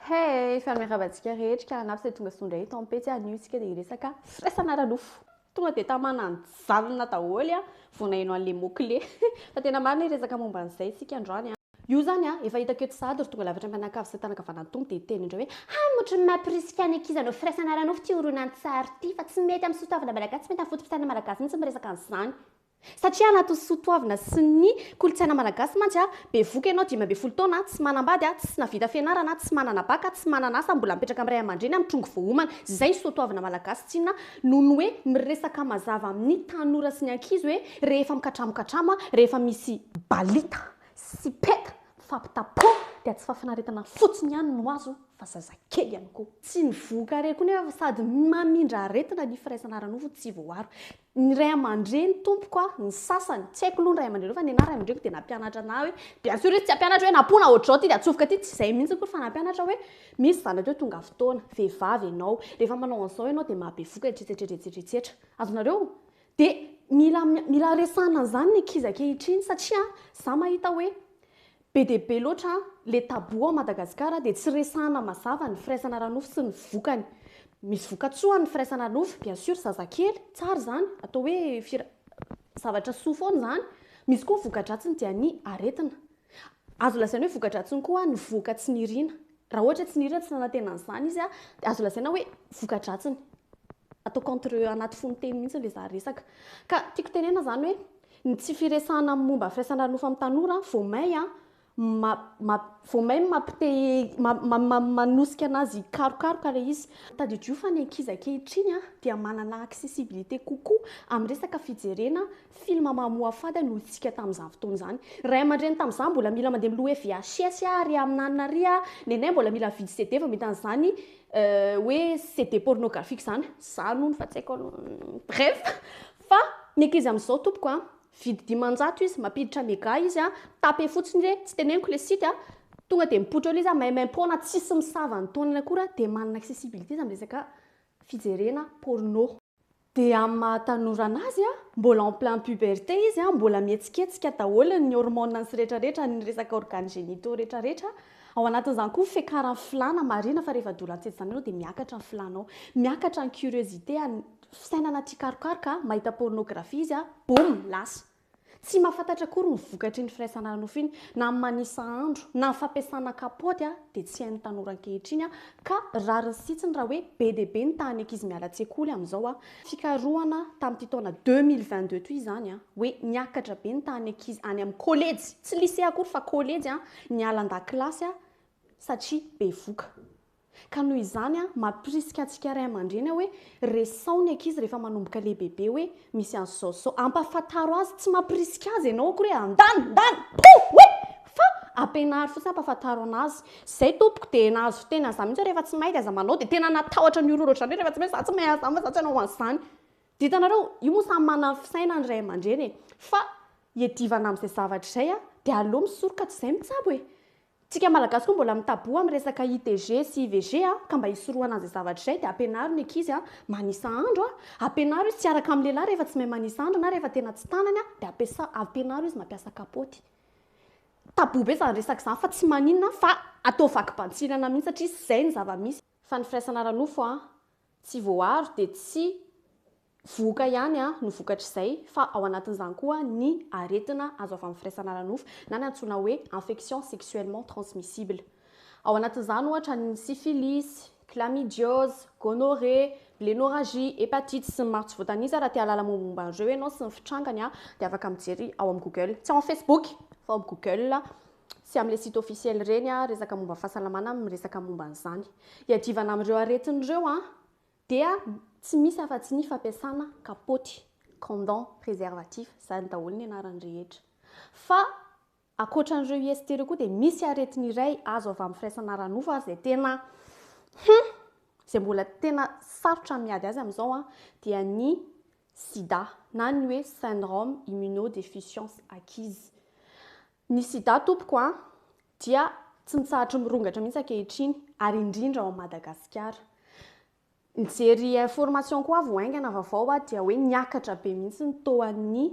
Hey, fa miarahaba antsika rehetra ka hanafy izay tonga soa indray eto amin'ny pejy anio isika dia hiresaka firaisana ara-nofo. Tonga dia tamana nijanona daholo a, vao naheno an'ilay mot clé. Fa tena marina hiresaka momba an'izay isika androany a. Io izany a, efa hitako eto sahady ry tonga lafatra mpianakavy sy tanakavanan'ny Tompo dia hiteny indray hoe, Hamotry ny maha mpirisika ny ankizy hanao firaisana ara-nofo ity horonantsary ity, fa tsy mety amin'ny soatoavina malagasy, tsy mety amin'ny foto-pisainana malagasy mihitsy ny miresaka an'izany. Satria anatin'ny soa toavina sy ny kolontsaina malagasy mantsy, bevoka ianao dimy ambin'ny folo taona, tsy manambady, tsy navita fianarana, tsy manana baka, tsy manana asa, mbola mipetraka amin'ny ray aman-dreny amin'ny trongy voaomana. Izay ny soa toavina malagasy tsinona noho ny hoe miresaka mazava amin'ny tanora sy ny ankizy hoe rehefa mikatramokatramo, rehefa misy balita sy peta mifampitapona dia tsy fahafinaretana fotsiny ihany no azo fa zazakely ihany koa. Tsy nivoaka re koa nefa sady mamindra aretina ny firaisana ara-nofo tsy voaaro. ny ray aman-dreny tompoko a, ny sasany, tsy haiko aloha ny ray aman-dreniko fa ny anah ray aman-dreniko dia nampianatra anah hoe bien sûr izy tsy hampianatra hoe nampoina ohatr'izao ity dia atsofoka aty, tsy izay mihitsy akory fa nampianatra hoe misy zanaka eo tonga fotoana, vehivavy ianao, rehefa manao an'izao ianao dia mahabevoka etsetsetra etsetsetra etsetsetra. Azonareo? Dia mila mila resahina an'izany ny ankizy ankehitriny satria za mahita hoe Be dia be loatra le tabou ao Madagasikara dia tsy resahana mazava ny firaisana ara-nofo sy ny vokany. Misy vokatsoany ny firaisana ara-nofo, bien sûr zazakely, tsara izany, atao hoe fira- zavatra soa foana izany. Misy koa ny voka-dratsiny dia ny aretina. Azo lazaina hoe voka-dratsiny koa ny vohoka tsy niriana. Raha ohatra tsy nihira, tsy nanantena an'izany izy, dia azo lazaina hoe voka-dratsiny. Ataoko entre anaty fonon-teny mihitsy ilay zary resaka. Ka tiako tenenana izany hoe ny tsy firesahana amin'ny momba ny firaisana ara-nofo amin'ny tanora vao may ma ma vao may mampi te ma ma ma manosika anazy hikarokaroka ilay izy. Tadidio fa ny ankizy ankehitriny dia manana accessibilité kokoa amin'ny resaka fijerena Film mamoafady ny olontsika tamin'izany fotoana izany. Ray aman-dreny tamin'izany mbola mila mandeha miloha hoe VHS a, ary amin'anona ary a, nenay mbola mila mividy CD vao mety an'izany hoe CD pornographique izany. Zany hono fa tsy haiko aloha. Bref. Fa ny ankizy amin'izao tompoko a, vidy dimanjato izy, mampiditra mega izy a, tape fotsiny hoe tsy teneniko le site a, tonga dia mipoitra ao le izy a, maimaim-poana tsisy misava ny taonany akory a, dia manana accessibilité izy amin'ny resaka fijerena porno. Dia amin'ny maha tanora anazy, mbola en plein puberté izy, mbola mihetsiketsika daholo ny hormones-ny sy rehetra rehetra, ny resaka organes génitaux rehetra rehetra, ao anatin'izany koa ny fiakaran'ny filàna, marihina fa rehefa doula an-tseza izany ianao dia miakatra ny filànao, miakatra ny curiosité-ny, fisainana tia karokaroka, mahita pornographie izy, boum! lasa. Tsy mahafantatra akory ny vokatry ny firaisana ara-nofo iny na amin'ny manisa andro na ny fampiasana kapaoty dia tsy hain'ny tanora ankehitriny ka rariny sitsiny raha hoe be dia be ny tahan'ny ankizy miala an-tsekoly amin'izao. Fikarohana tamin'ity taona deux mille vingt deux ity izany hoe niakatra be ny tahan'ny ankizy any amin'ny kolejy, tsy lisea akory fa kolejy, niala an-dakilasy satria bevoka. Ka noho izany, mampirisika antsika ray aman-dreny aho hoe, resaho ny ankizy rehefa manomboka lehibebe hoe, misy an'izao sy izao. Ampahafantaro azy, tsy mampirisika azy ianao akory hoe, andany, ndany, pouh! Hoe! Fa ampianaro fotsiny, ampahafantaro an'azy. Izay tompoko, dia nahazo fiteny an'izany mihitsy aho rehefa tsy mahay dia aza manao, dia tena natahotra ny horohoro ohatr'izany hoe, rehefa tsy mahay, izaho tsy mahay an'izany fa izaho tsy hanao an'izany. Dia hitanareo, io moa samy manana ny fisainany ny ray aman-dreny e! Fa hiadivana amin'izay zavatra izay dia aleo misoroka toy izay mitsabo e! Tsika malagasy koa mbola mitaboha am resaka ITG sy IVG a, ka mba hisorohana an'izay zavatra izay dia ampianaro ny ankizy a manisa andro a, ampianaro izy tsy hiaraka am lehilahy rehefa tsy mahay manisa andro na rehefa tena tsy tanany a dia ampiasa ampianaro izy mampiasa kapoty. Taboha be zany resaka zany fa tsy maninona fa atao vaky bantsirana mihitsy satria zay ny zava misy. Fa ny firaisana ara-nofo a tsy voaaro dia tsy Vohoka ihany no vokatr'izay fa ao anatin'izany koa ny aretina azo avy amin'ny firaisana ara-nofo na ny antsoina hoe infection sexuellement transmissible. Ao anatin'izany ohatra ny syphilis, chlamydiose, gonorrhée, blénorragie, hepatite sy ny maro tsy voatanisa. Raha te hahalala mombamomba an'ireo ianao sy ny fitrangany dia afaka mijery ao amin'ny google, tsy ao amin'ny facebook fa ao amin'ny google sy amin'ilay site officiel ireny resaka momba fahasalamana miresaka momba an'izany. Hiadivana amin'ireo aretina ireo Dia tsy misy afa-tsy ny fampiasana kapaoty, condom, préservatif, izany daholo ny anarany rehetra. Fa ankoatra an'ireo IST ireo koa dia misy aretina iray azo avy amin'ny firaisana ara-nofo ary izay tena hum! izay mbola tena sarotra ny miady azy amin'izao an, dia ny sida na ny hoe syndrome immunodeficience acquise. Ny sida tompoko an, dia tsy mitsahatry ny mirongatra mihitsy ankehitriny ary indrindra ao Madagasikara. Nijery information koa vao haingana vaovao aho dia hoe niakatra be mihitsy ny toan'ny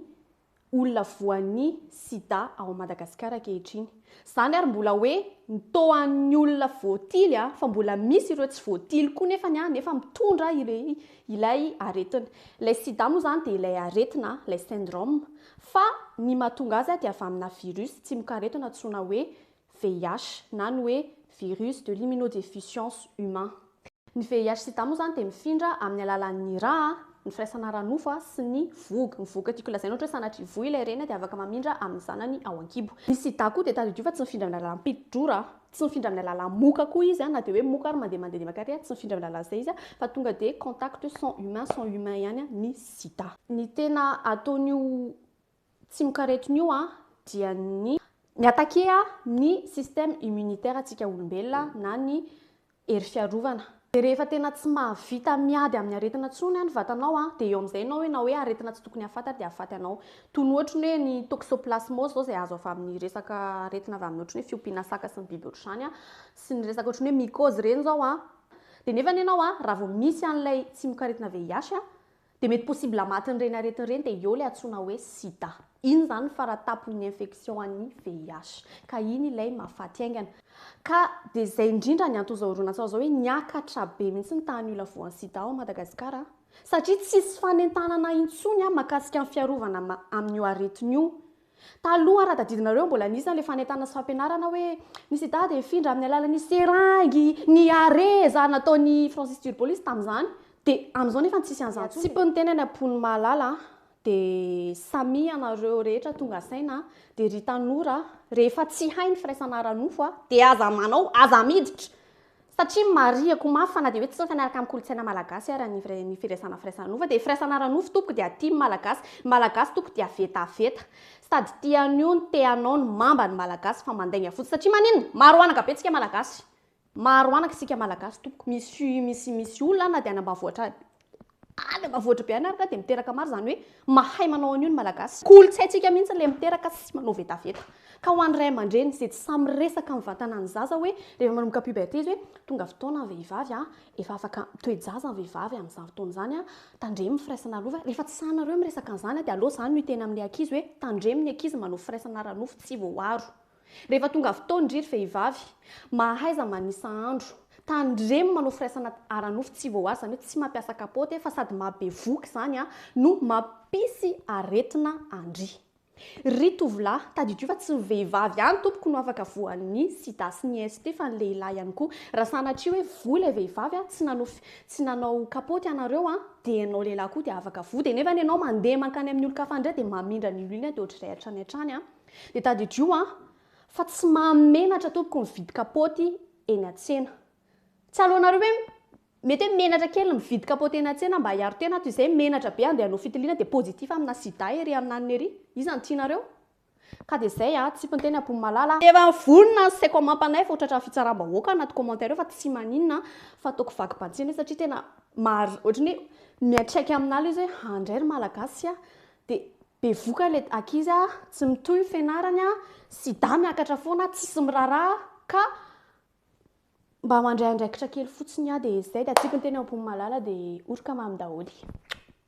olona voan'ny sida ao Madagasikara ankehitriny. Izany ary mbola hoe ny toan'ny olona voatily fa mbola misy ireo tsy voatily koa nefa ny nefa mitondra ilay aretina. Ilay sida moa izany dia ilay aretina, ilay syndrome. Fa ny mahatonga azy dia avy amina virus tsimokaretina antsoina hoe VIH na ny hoe virus de l'immunodéficience humain. Ny VIH sida moa izany dia mifindra amin'ny alalan'ny ra, ny firaisana ara-nofo sy ny vohoka. Ny vohoka tiako lazaina ohatra hoe sanatria voa ilay reny dia afaka mamindra amin'ny zanany ao an-kibo. Ny sida koa dia tadidio fa tsy mifindra amin'ny alalan'ny piti-drora. Tsy mifindra amin'ny alalan'ny moka koa izy na dia hoe moka ary mandeha mandeha dia maka ary, tsy mifindra amin'ny alalan'izay izy fa tonga dia contact sont humain sont humain ihany ny sida. Ny tena ataon'io tsimokaretina io dia ny mi-attaquer ny système immunitaire antsika olombelona na ny hery fiarovana. Dia rehefa tena tsy mahavita miady amin'ny aretina intsony ny vatanao dia eo amin'izay ianao hoe na hoe aretina tsy tokony hahafaty ary dia hahafaty anao. Toy ny ohatry ny hoe ny toxoplasmose izao izay azo avy amin'ny resaka aretina avy amin'ny ohatry ny hoe fiompiana saka sy ny biby ohatry izany sy ny resaka ohatry ny hoe mycose ireny izao dia nefa ianao raha vao misy an'ilay tsimokaretina VIH Dia mety possible matin'ireny aretina ireny dia eo ilay antsoina hoe sida. Iny izany ny faratapon'ny infection an'ny VIH. Ka iny ilay mahafaty haingana. Ka dia izay indrindra ny anton'izao horonantsary izao hoe niakatra be mihitsy ny tahan'ny olona voan'ny sida ao Madagasikara an! Satria tsisy fanentanana intsony an makasika ny fiarovana amin'io aretina io Taloha raha tadidinareo mbola nisy an'ilay fanentanana sy fampianarana hoe ny sida dia hifindra amin'ny alalan'ny seringy, ny hareza nataon'i Francis Turbolis tamin'izany dia amin'izao nefa tsisy an'izany tsony. Tsipy ny teny any am-pon'ny Malala a! Dia samia ianareo rehetra tonga saina a! Dia ry tanora a! Rehefa tsy hay ny firaisana ara-nofo a! Dia aza manao, aza miditra! Satria marihako mafy fa na dia hoe tsy mifanaraka amin'ny kolontsaina malagasy ara ny ny firaisana firaisana ara-nofo dia firaisana ara-nofo tompoko dia aty ny malagasy, ny malagasy tompoko dia vetaveta. Sady tia an'io ny te hanao ny mamba ny malagasy fa mandainga fotsiny satria maninona? Maro anaka be tsika malagasy. Maro anaka isika malagasy tompoko. Misy misy misy olona any na dia any ambavohitra any. Any amin'ny vohitra be any ary ka dia miteraka maro izany hoe mahay manao an'io ny Malagasy. Kolontsaintsika mihitsy ilay miteraka sy manao vetaveta. Ka ho an'ny ray aman-dreny izay tsy sahy miresaka amin'ny vatanan'ny zaza hoe rehefa manomboka puberté izy hoe tonga fotoana ny vehivavy a, efa afaka mitoe-jaza ny vehivavy amin'izany fotoana izany a, tandremo ny firaisana ara-nofo. Rehefa tsy sahy nareo miresaka an'izany dia aleo izany no hiteny amin'ilay ankizy hoe tandremo ny ankizy manao firaisana ara-nofo tsy voaaro. Rehefa tonga fotoan dry ry vehivavy, mahaiza manisa andro. Tandremo manao firaisana ara-nofo tsy voahaja, zany hoe tsy mampiasa kapoty e, fa sady maha bevoka izany a, no mampisy aretina andry. Ry tovolahy, tadidio fa tsy ny vehivavy ihany tompoko no afaka voan'ny sida sy ny ST fa ny lehilahy ihany koa. Raha sanatria hoe voa ilay vehivavy a, tsy nanao fi, tsy nanao kapoty ianareo a, dia ianao lehilahy koa dia afaka voa, dia nefa ianao mandeha mankany amin'ny olon-kafa indray dia mamindra ny loilona dia ohatr'izay hatrany hatrany a. Dia tadidio an! fa tsy mahamenatra tompoko mividy kapaoty eny an-tsena. Tsy aleonareo hoe mety hoe menatra kely mividy kapaoty eny an-tsena mba hiaro tena ato izay menatra be andeha hanao fitiliana dia positif amina sida ery amina anona ery. Iza no tianareo? Ka dia izay an! Tsipin-teny Ampoinimalala a! Efa vonona ny sec omapanay fa ho tratran'ny fitsaram-bahoaka ao anaty commentaire ao fa tsy maninona an! fa ataoko vaky bantsina io satria tena mari, ohatran'ny hoe miantraika aminà ilay izy hoe handray ry Malagasy an! dia Bevoka le ankizy a, tsy mitohy ny fianarany a, sida miakatra foana, tsisy miraraha ka mba mandray andraikitra kely fotsiny a, de zay de tsy tiko ny teny ambonin'ny malala de oroka mamy daholo e.